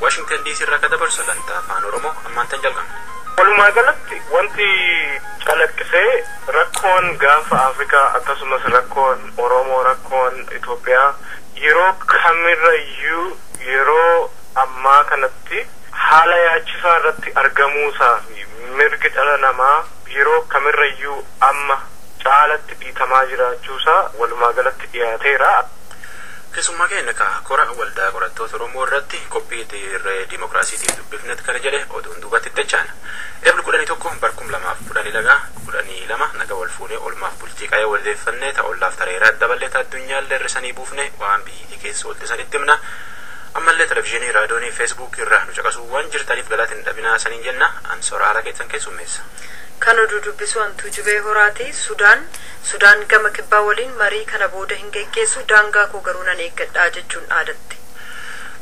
Washington DC irraa ka dabarsu sagantaa Afaan Oromoo ammaan tan jalqabna. Walumaa galatti wanti calaqqisee rakkoon gaanfa Afrikaa akkasumas rakkoon Oromoo rakkoon Itoophiyaa yeroo kamirrayyuu yeroo ammaa kanatti haala yaachisaa irratti argamuu isaa fi mirgi dhala namaa yeroo kamirrayyuu amma caalatti dhiitamaa jiraachuu isaa walumaa galatti dhiyaateera. Keessummaa keenya ka kora Waldaa Qorattoota Oromoo irratti qophii Dirree Dimokiraasiitiif dubbifnetu kana jedhe oduun duubatti itti achaana. Ebl 11 bar 2012 naga wal fuunee olmaaf bultii qa'ee wal deeffannee ta ollaaf ta reeraa daballee ta addunyaallee irrisanii buufne waan biyyitii keessa oolte sanitti himna. Ammallee televizhiinii, raadoonii, feesbuukii irraa nu caqasuu waan jirtaniif galata hin dhabinaa saniin jenna. An soraa haala keessan keessummeessa. Kan oduu dubbisu Antuu Jubee Horaati. Sudaan. Sudaan gama Kibbaa waliin marii kana booda hin geggeessu, daangaa koo garuu nan eeggadha, jechuun dhaadatte.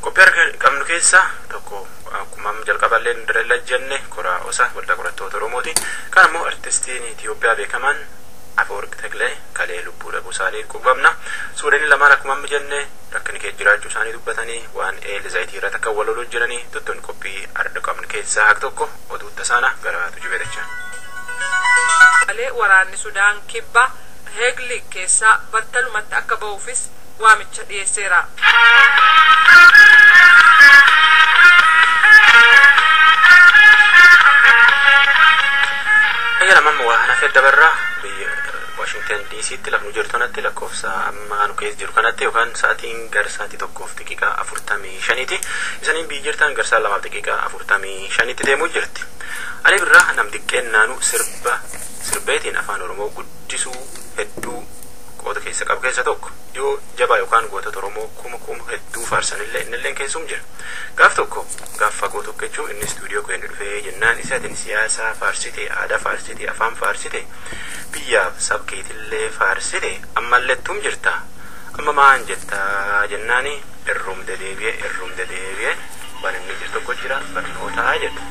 Qophii har'a qabnu keessaa tokko akkuma amma jalqaba illee Indirella jenne kora osa waldaa qorattoota Oromooti. Kaan ammoo artistiin Itiyoophiyaa beekamaan Afawarq Teklee kalee lubbuu dhabuu isaanii quba qabna. Suudanii lamaan akkuma amma jenne rakkina keessa jiraachuu isaanii dubbatanii waan eeli zayitii irratti akka wal loluu jiranii tuttun qophii har'a qabnu keessaa haq tokko oduu tasaana gara tujubee dachaan. Sudaan Kibbaa Heglig keessaa battalumatti akka ba'uufis waamicha dhiyeesseera. Ayyalam amma waa hanafe dabarraa biyya Washington DCtti lafnu jirtu kanatti lakkoofsa amma nu keessa jiru kanatti yookaan sa'aatiin gara sa'aatii tokkoof daqiiqaa afurtamii shaniiti. Isaniin biyyi jirtan gara sa'aa lamaaf daqiiqaa afurtamii shanitti deemuu jirti. Ani birraa nam xiqqeen naanu sirba sirbeetiin Afaan Oromoo guddisuu hedduu qooda keessa qabu keessa tokko. Yoo jabaa yookaan gootota Oromoo kuma kuma hedduu faarsanillee innilleen keessum jira. Gaaf tokko gaaf fagoo tokkechuu inni istuudiyoo keenya dhufee jennaan isa atin siyaasaa faarsite, aadaa faarsite, afaan faarsite, biyyaaf sab keetillee faarsite ammallee ittum jirta. Amma maan jetta jennaani irrum dedeebi'e irrum dedeebi'e waan inni jedhu tokko jira barnootaa jedhe.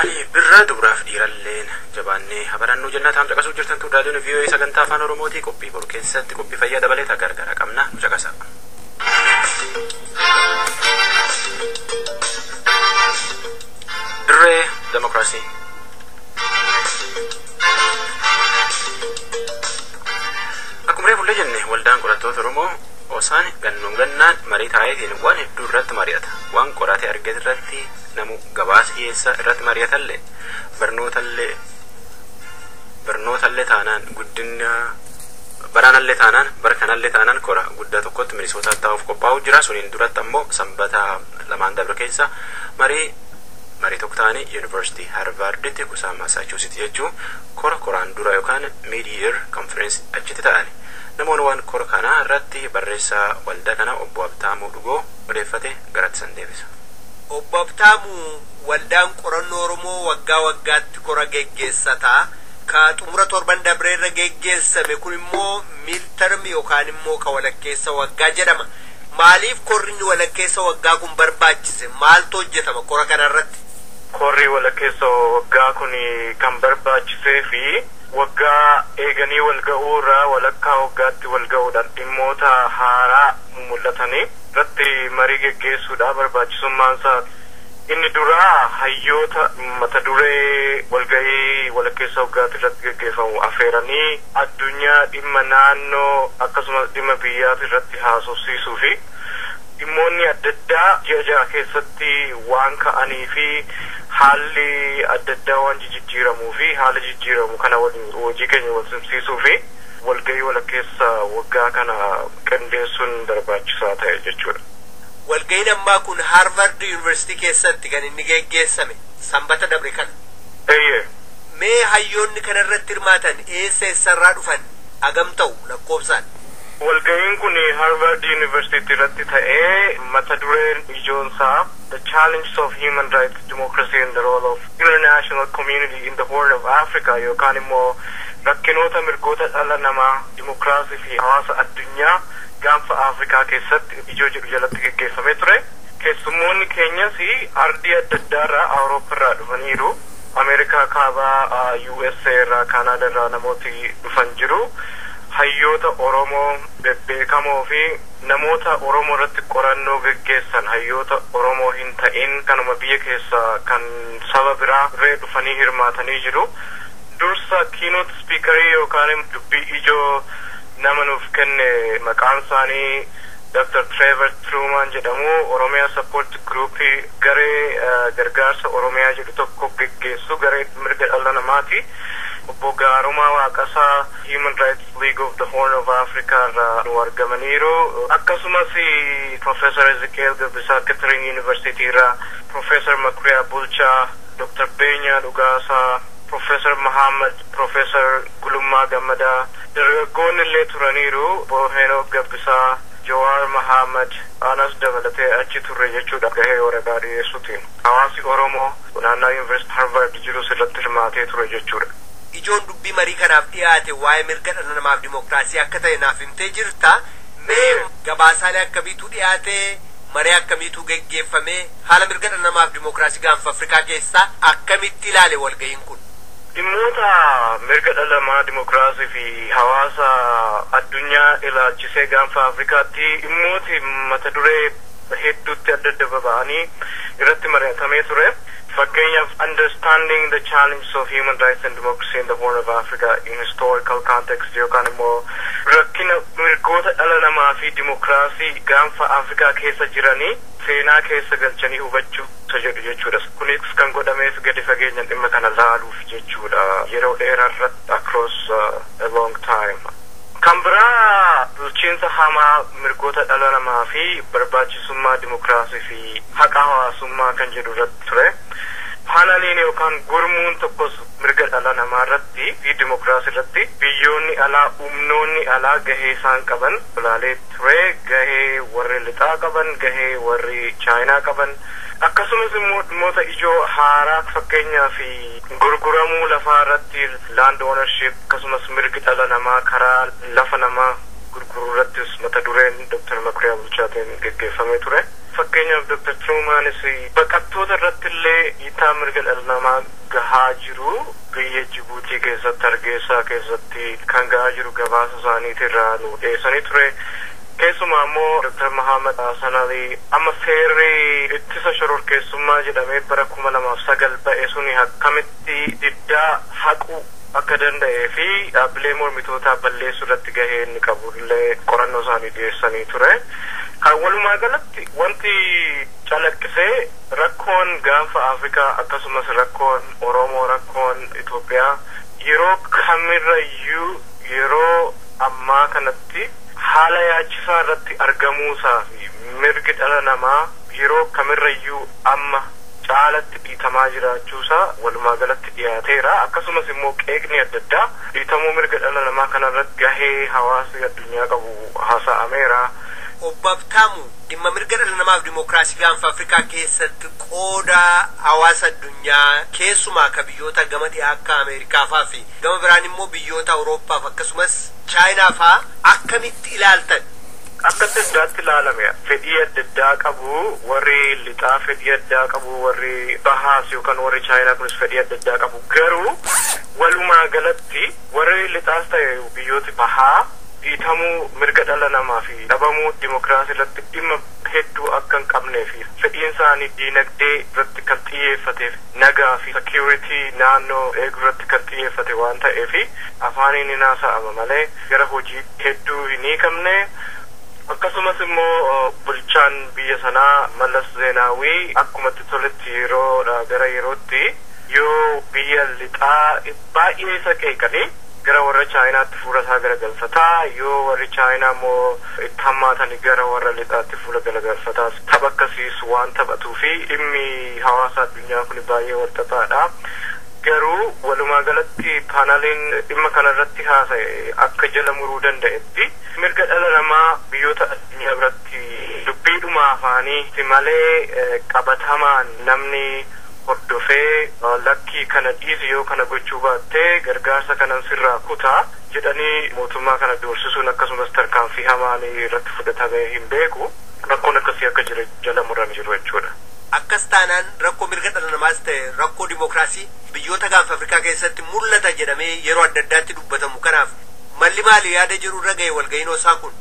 Ani birraa dubraaf dhiiralleen jabaannee habarannuu jennaa taam caqasuu jirtantu raadiyoon VOA sagantaa afaan Oromootii qophii boru keessatti qophii fayyaa dabalee ta gargara qabna nu caqasa. Dirree Demokrasii. Akkuma reefullee jenne waldaan qorattoota Oromoo Osaan gannum gannaan marii taa'eetiin waan hedduu irratti mari'ata. Waan qoratee arge irratti namuu gabaasa dhiyeessa, irratti mari'atallee. Barnootallee barnootallee taanaan guddinna baraanallee taanaan bara kanallee taanaan kora guddaa tokkotti Minisootaatti taa'uuf qophaa'uu jira. Suniin duratti ammoo sanbata lamaan dabre keessa marii marii tokko taa'anii Yuunivarsiitii Harvaarditti kusaa Maasaachuusitti jechuu kora koraan dura yookaan mid year conference achitti taa'an. Namoonwaan kor kana irratti barreessaa walda kana obbo Habtaamuu Dhugoo odeeffate garatti san deebisa. Obbo Habtaamuu, Waldaan Qorannoo Oromoo waggaa waggaatti kora geggeessata. Ka xumura torban dabree irra geggeessame kun immoo mid term yokaan immoo ka walakkeessa waggaa jedhama. Maaliif korri inni walakkeessa waggaa kun barbaachise? Maaltu hojjetama kora kana irratti? Korri walakkeessa waggaa kun kan barbaachiseefi. Waggaa eeganii walga'uu irraa walakkaa waggaatti walga'uudhaan dhimmoota haaraa mumul'atanii irratti marii geggeessuudha. Barbaachisummaan isaa inni duraa hayyoota mata duree walga'ii walakkeessa waggaatii irratti geggeeffamu afeeranii addunyaa dhimma naannoo akkasumas dhimma biyyaatii irratti haasofsiisuufi. Dhimmoonni addaddaa ji'a ja'a keessatti waan ka'anii fi haalli addaddaa waan jijijjiiramuu fi haala jijjiiramu kana waliin hojii keenya walsimsiisuu fi walgahii walakkeessa waggaa kana qindeessuun barbaachisaa ta'e jechuu dha. Walgahiin ammaa kun Harvard University keessatti kan inni geggeessame Sanbata dabre kana. Eeyyee. Mee hayyoonni kana irratti hirmaatan eessa eessarraa dhufan? Hagam ta'u lakkoofsaan? Walgahiin kun Harvard University irratti ta'e mata dureen ijoon isaa The Challenges of Human Rights, Democracy and the Role of International Community in the Horn of Africa yookaan immoo Rakkinoota Mirgoota Dhala Namaa, Dimokiraasii fi Hawaasa Addunyaa Gaanfa Afrikaa Keessatti ijoo jedhu jalatti geggeeffamee ture. Keessummoonni keenyas ardii adda addaa irraa Awurooppa irraa dhufaniiru. Ameerikaa Kaabaa, USA irraa, Kaanaada irraa namooti dhufan jiru. Hayyoota Oromoo bebbeekamoo fi namoota Oromoo irratti qorannoo geggeessan hayyoota Oromoo hin ta'in kanuma biyya keessaa kan saba biraa irree dhufanii hirmaatanii jiru. Dursa keynote speaker yookaan dubbii ijoo nama nuuf kenne maqaan isaanii Dr. Trevor Truman jedhamu Oromia Support Group garee gargaarsa Oromiyaa jedhu tokko geggeessu garee mirga dhala namaati. Obbo Gaarumaa Waaqasaa. Human Rights League of the Horn of Africa irraa nuu argamaniiru. Akkasumas Professor Ezekiel Gabbisaa Kettering University irraa, Professor Makuriyaa Bulchaa, Dr. Beenyaa Dhugaasaa, Professor Mahaamad, Professor Gulummaa Gammadaa, dargaggoonni illee turaniiru, Obbo Henook Gabbisaa, Jowaar Mahaamad, anas dabalatee achi turre jechuudha gahee waraqaa dhiyeessuutiin. Hawaasi Oromoo naannaa University Harvard jirus irratti hirmaatee ture jechuudha. Ijoon dubbii marii kanaaf dhiyaate waa'ee mirga dhala namaaf dimokiraasii akka ta'e naaf himtee jirta. Mee gabaasaalee akkamiitu dhiyaate, marii akkamiitu geggeeffame, haala mirga dhala namaaf dimokiraasii Gaanfa Afrikaa keessaa akkamitti ilaale walgahiin kun? Dhimmoota mirga dhala namaa, dimokiraasii fi hawaasa addunyaa ilaalchisee Gaanfa Afrikaatti dhimmooti mata duree hedduutti adda adda baba'anii irratti mari'atamee ture. Fakkeenyaaf, Understanding the Challenges of Human Rights and Democracy in the Horn of Africa in Historical Context yookaan immoo Rakkina Mirgoota Dhala Namaa fi Dimokiraasii Gaanfa Afrikaa Keessa Jiranii Seenaa Keessa Galchanii Hubachuu isa jedhu jechuu dha. Kunis kan godhameef gadi fageenyaan dhimma kana laaluuf jechuu dha. Yeroo dheeraa irratti, across a long time. Kan biraa, bulchiinsa hamaa mirgoota dhala namaa fi barbaachisummaa dimokiraasii fi. haqaa hawaasummaa kan jedhu irratti ture. Paanaliin yookaan gurmuun tokkos mirga dhala namaa irratti fi dimokiraasii irratti biyyoonni alaa, humnoonni alaa gahee isaan qaban ilaalee ture. Gahee warri lixaa qaban, gahee warri Chaayinaa qaban akkasumas immoo dhimmoota ijoo haaraa fakkeenyaaf gurguramuu lafaa irratti, land ownership, akkasumas mirgi dhala namaa karaa lafa namaa gurguruu irrattis mata dureen Dr. Makuriyaa Bulchaatiin geggeeffamee ture. Fakkeenyaaf Dr. Tiruumaanis baqattoota irratti illee dhiittaa mirga dhala namaa gahaa jiru biyya Jibuutii keessatti, Hargeessaa keessatti kan gahaa jiru gabaasa isaaniitii irraa nuuf dhiyeessanii ture. Keessumaa immoo Dr. Mahaammad Hasan Alii amma seerri ittisa shororkeessummaa jedhamee bara 2009 ba'e suni akkamitti diddaa haquu, akka danda'ee fi dhaabbilee mormitootaa balleessuu irratti gahee inni qabu illee qorannoo isaanii dhiyeessanii ture. Walumaa galatti wanti calaqqise rakkoon gaanfa Afrikaa akkasumas rakkoon Oromoo, rakkoon Itoophiyaa yeroo kamirra iyyuu yeroo ammaa kanatti haala yaachisaa irratti argamuu isaa fi mirgi dhala namaa yeroo kamirra iyyuu amma caalatti dhiitamaa jiraachuusaa walumaa galatti dhiyaateera. Akkasumas immoo qeeqni adda addaa dhiitamuu mirga dhala namaa kanarratti gahee hawaasni addunyaa qabu haasa'ameera. Obbo Habtaamuu, dhimma mirga dhala namaafi dimookiraasii Gaanfa Afrikaa keessatti qooda hawaasa addunyaa keessumaa ka biyyoota gama dhihaa akka Ameerikaafaafi gama biraan immoo biyyoota Awurooppaaf akkasumas Chaayinaafaa akkamitti ilaaltan? Akka adda addaatti ilaalame fedhii adda addaa qabu warri lixaa fedhii addaa qabu warri bahaas yookaan warri chaayinaa kunis fedhii adda addaa qabu garuu walumaa galatti warri lixaas ta'e biyyooti bahaa dhiitamuu mirga dhala namaa fi dhabamuu dimokiraasii irratti dhimma hedduu akka hin qabnee fi fedhiin isaanii diinagdee irratti kan xiyyeeffateef nagaa fi security naannoo eeguu irratti kan xiyyeeffate waan ta'eef afaaniin hin haasa'ama malee gara hojii hedduu hin hiikamne. Akkasumas immoo bulchaan biyya sanaa Malas Zeenaawii akkuma itti toletti yeroodhaa gara yerootti yoo biyya lixaa baay'ee isa qeeqani gara warra Chaayinaatti fuula isaa garagalfata, yoo warri Chaayinaa immoo itti hammaatani gara warra lixaatti fuula galagalfata. Tapha akkasiis waan taphatuufi dhimmi hawaasa addunyaa kuni baay'ee walxaxaadha. Garuu walumaa galatti paanaaliin dhimma kana irratti haasa'e akka jala muruu danda'etti, mirga dhala namaa biyyoota addunyaa biratti dubbiidhuma afaaniiti malee qabatamaan namni hordofee lakkii kana dhiisi yoo kana gochuu baatte gargaarsa kanan sirraa kuta jedhanii mootummaa kana doorsisuun akkasumas tarkaanfii hamaan irratti fudhatamee hin beeku. Rakkoon akkasii akka jiru jala muranii jiru jechuudha. Akkas taanaan rakkoo mirga dhala namaas ta'e rakkoo dimokiraasii biyyoota Gaanfa Afrikaa keessatti mul'ata jedhamee yeroo adda addaatti dubbatamu kanaaf malli maali yaada jedhu irra ga'e walga'iin Osaa kun.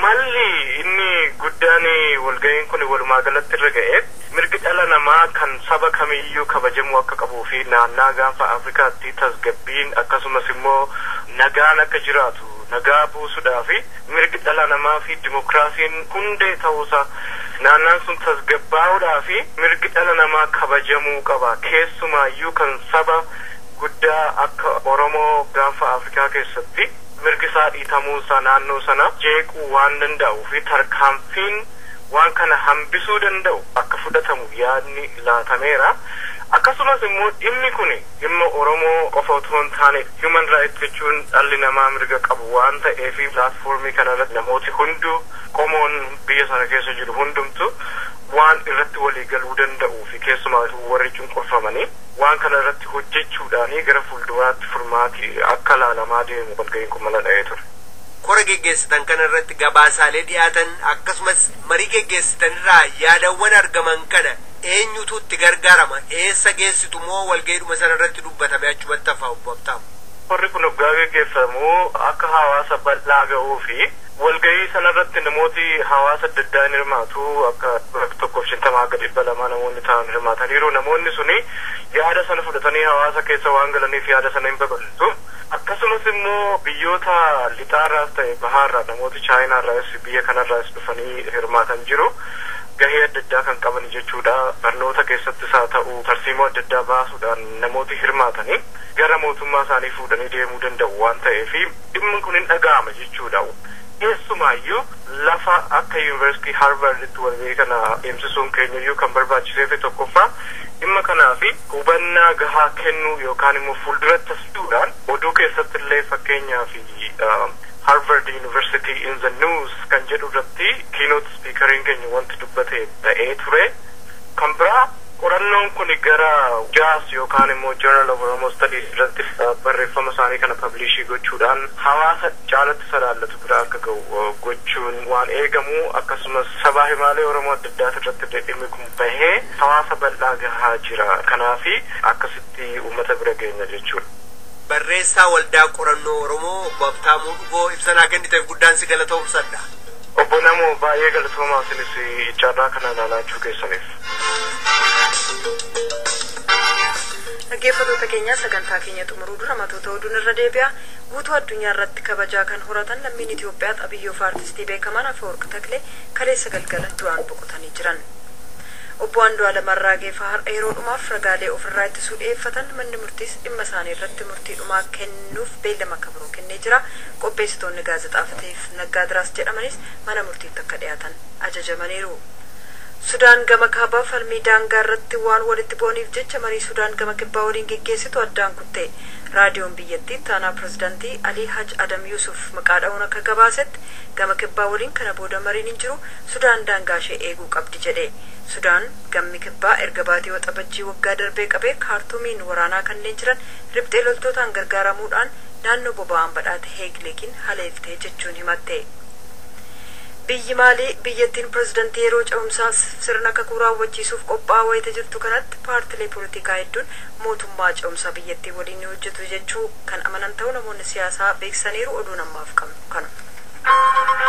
Malli inni guddaan walga'iin kun walumaa galatti irra ga'e mirgi dhala namaa kan saba kamiiyyuu kabajamuu akka qabuu fi naannaa Gaanfa Afrikaatti tasgabbiin akkasumas immoo nagaan akka jiraatu nagaa buusudhaafi. mirgi dhala namaa fi dimokiraasiin hundee ta'uusaa, naannaan sun tasgabbaa'uudhaa fi mirgi dhala namaa kabajamuu qaba, keessumaayyuu kan saba guddaa akka Oromoo Gaanfa Afrikaa keessatti mirgi isaa dhiitamuunsaa naannoo sana jeequu waan danda'uu fi tarkaanfiin waan kana hambisuu danda'u akka fudhatamu yaadni laatameera. Akkasumas immoo dhimmi kun. Dhimma Oromoo qofa utuu hin taane Human Rights jechuun dhalli namaa mirga qabu waan ta'eefi platform kana irratti namooti hunduu qomoon biyya sana keessa jiru hundumtuu waan irratti walii galuu danda'uu fi keessumaatuu warri cunqurfamanii waan kana irratti hojjechuudhaanii gara fuulduraatti furmaati akka laalamaa deemu walga'iin kun mala dha'ee ture. Kora geggeessitan kana irratti gabaasaalee dhiyaatan akkasumas marii geggeessitan irraa yaadawwan argaman kana Eenyutu itti gargaarama? Eessa geessitu moo walga'iidhuma sana irratti dubbatamee achumatti hafa? Obbo Habtaamu. Korri kun oggaa geggeeffamu akka hawaasa bal'aa ga'uu fi walga'ii sana irratti namooti hawaasa adda addaa in hirmaatu. Akka 150 hanga 200 namoonni ta'an hirmaataniiru. Namoonni suni yaada sana fudhatanii hawaasa keessa waan galaniif yaada sana in babal'isu. Akkasumas immoo biyyoota lixaa irraas ta'e bahaa irraa namooti Chaayinaa irraas biyya kana irraas dhufanii hirmaatan jiru. gahee adda addaa kan qabani jechuudha. Barnoota keessattis haa ta'u tarsiimoo adda addaa baasuudhaan namooti hirmaatani gara mootummaa isaanii fuudhanii deemuu danda'u waan ta'eef dhimmi kun hin dhaga'ama jechuudha. Keessumaayyuu lafa akka Yuunivarsiitii Harvarditti walgahii kana deemsisuun keenyayyuu kan barbaachiseefi tokkoffaa dhimma kanaaf hubannaa gahaa kennuu yookaan immoo fuulduratti tasgabbaa'uudhaan oduu keessattillee fakkeenyaaf Harvard University in the news kan jedhu irratti keynote Ispiikariin keenya wanti dubbate ba'ee ture. Kan biraa qorannoon kuni gara JOOS yookaan immoo Journal of Oromo Studies irratti barreeffama isaanii kana pabliishii gochuudhaan hawaasa caalatti isa ilaallatu bira akka ga'u gochuun waan eegamu akkasumas sabaa himaalee Oromoo adda addaati irratti illee dhimmi kun bahee hawaasa bal'aa gahaa jira. Kanaafi akkasitti uummata bira geenya jechuudha. Barreessaa Waldaa Qorannoo Oromoo Obbo Habtaamuu Dhugoo ibsa naa kenniteef guddaan si galatoomsadha. Obbo Namo baay'ee galatoomaa isinis carraa kana naa laachuu keessaniif. Dhaggeeffatoota keenya sagantaa keenya xumuruu dura matoota oduun irra deebi'a. Guutuu addunyaa irratti kabajaa kan horatan lammiin Itoophiyaa xabiyyoo fi aartistii beekamaan Afawarq Taklee kaleessa galgala du'aan boqotanii jiran. Obbo Andu'aalam Arraagee faa har'a yeroo dhumaaf ragaalee of irraa ittisuu dhiyeeffatan manni murtiis dhimma isaanii irratti murtii dhumaa kennuuf beellama akka biroo kennee jira. Qopheessitoonni Gaazexaa Fitihiif. Naggaadiraas jedhamanis mana murtiitti akka dhiyaatan ajajamaniiru. Sudaan gama Kaabaa falmii daangaa irratti waan walitti bu'aniif jecha marii Sudaan gama Kibbaa waliin geggeessitu addaan kutte. Raadiyoon biyyattii itti aanaa pirezidantii Alii Haj Adam Yuusuf maqaa dha'uun akka gabaasetti gama Kibbaa waliin kana booda mariin hin jiru, Sudaan daangaa ishee eeguu qabdi jedhe. Sudaan gammi Kibbaa erga baatii Waxabajjii waggaa darbee qabee Kaartuumiin waraanaa kanneen jiran riphxee loltootaan gargaaramuudhaan naannoo boba'aan badhaate Heegileekin haleelte jechuun himatte. Biyyi Maalii biyyattiin pirezidantii yeroo cehumsaa sirna kakuu raawwachiisuuf qophaa'aa wayita jirtu kanatti paartilee politikaa hedduun mootummaa cehumsaa biyyattii waliin ni hojjetu jechuu kan amanan ta'uu namoonni siyaasaa beeksisaniiru oduun ammaaf qabnu kanuma.